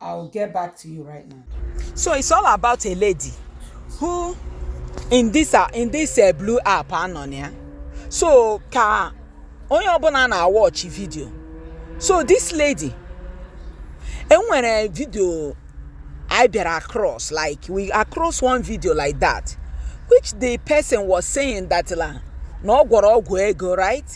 I will get back to you right now. So it's all about a lady who in this uh, in this uh, blue app a nọ na ya. So ka onye ọbụla na-awọchi video. So this lady e nwere video anyị bịara across like we across one video like that which the person was saying that la na ọ gwọrọ ọgwụ ego right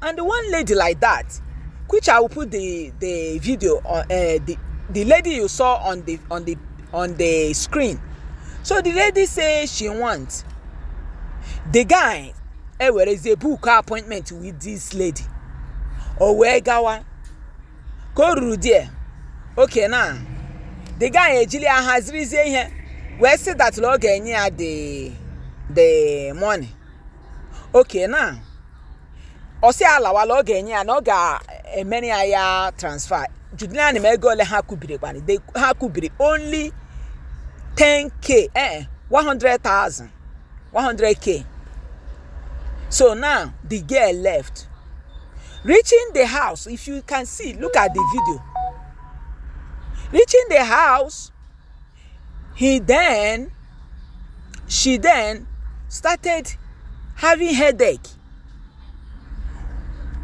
And one lady like that, which I will put the the video on uh, the the lady you saw on the on the on the screen. So the lady say she want the guy eh, where is a book appointment with this lady. O wee gawa ka o ruru die okay na the guy ejili ya hazirizie ihe wee sị that ọ ga-enye ya the the money Okay now, ọ sị ya lawa la ọ ga-enye ya na ọ ga-emere ya ya transfer. Jụdịrị m ego ole ha kwubiri kwanụ. Eh ha kwubiri only 10k eh 100,000 100k. So now the girl left. Reaching the house, if you can see, look at the video. Reaching the house, He then, she then started having headache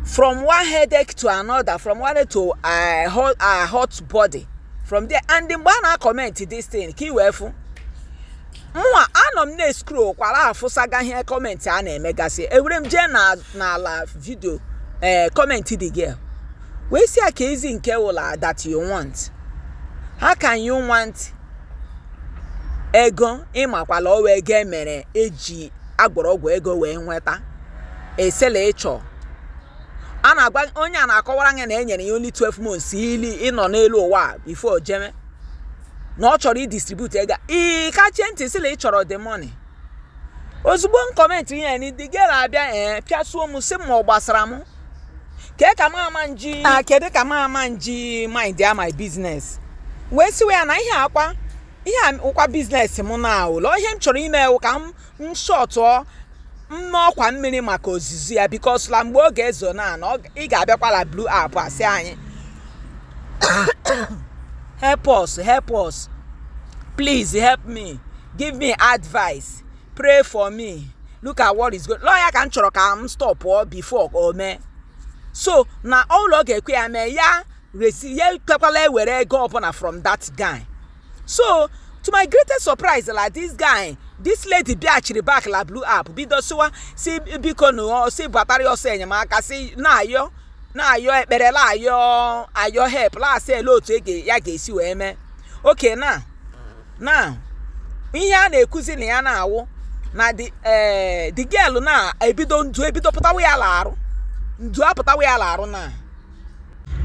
from one headache to another from one head to a hot, a hot body from there and mgbe a na-akọment this thing ka i wee fụ mụwa anọ m na-escroll kwara afụsaga ihe comment a na-emegasị ewere m jee n'ala video ee eh, kọmentị the girl wee sị ya keezi nke wụ la that you want how can you want ego ị makwa la ọ wụ ego e mere e ji a gwọrọ ọgwụ ego wee nweta ị sị la ị chọrọ a na-agwa onye a na-akọwara gị na e nyere ya only 12 months ili ịnọ n'elu ụwa before jeme na ọ chọrọ idistribute ego ị kachie ntị sị la ị chọrọ the money ozugbo m kọmentị ihe ni the girl abịa ee pịasuo m sị m ma ọ gbasara m kee ka m ama nji na kedu ka m ama nji mindịa my business wee sịwa ya na ihe a kwa ihe a wụkwa business m na ọ wụ la ihe m chọrọ ime wụ ka m m shọtụọ m n'ọkwa mmiri maka ozizi ya because la mgbe oge ezuo na na ọ ị ga-abịakwa la blue app asị anyị help us help us please help me give me advice pray for me look at what is going on ọ ya ka m chọrọ ka m stopụọ before o mee so na ụlọ ga-ekwe ya mee ya re sị ya ekwekwala ewere ego ọbụla from that guy so to my greatest surprise la this guy this lady bịachiri back la blue app bido sịwa si biko nụ o sị batara ya ọsọ enyemaka sị na-ayọ na-ayọ ekpere na-ayọ ayọ help na-asị ele otu e ga- ya ga-esi wee mee okay na na ihe a na-ekwuzi na ya na-awụ na the eh, the girl na ebido ndu ebido pụtawa ya la arụ ndu apụtawa ya la arụ na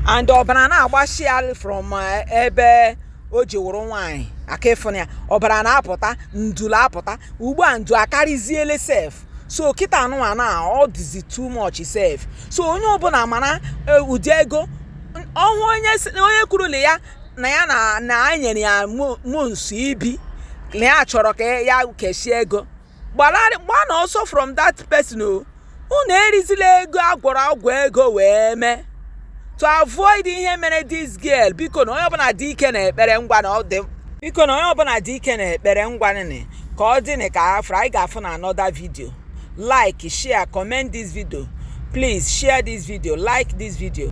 and ọbara na-agbasi ya from eh, ebe o ji wụrụ nwaanyị aka ịfụna ya ọbara na-apụta ndulu apụta ugbu a ndu akarịziele sef so kịta nụnwa na ọ dịzi too much sef so onye ọbụla mara eh, ụdị ego n- ọhụ onye si- onye kwurula ya na ya na na anyị nyere ya mo- months ibi na ya chọrọ ka ya kechie ego gbalarị gbanụ ọsọ from that person o unu erizila ego a gwọrọ agwọ ego wee mee to avoid ihe mere this girl biko na onye ọbụla dị ike na ekpere ngwanị ka ọ dịnị ka afra anyị ga-afụ na another video like share comment this video please share this video like this video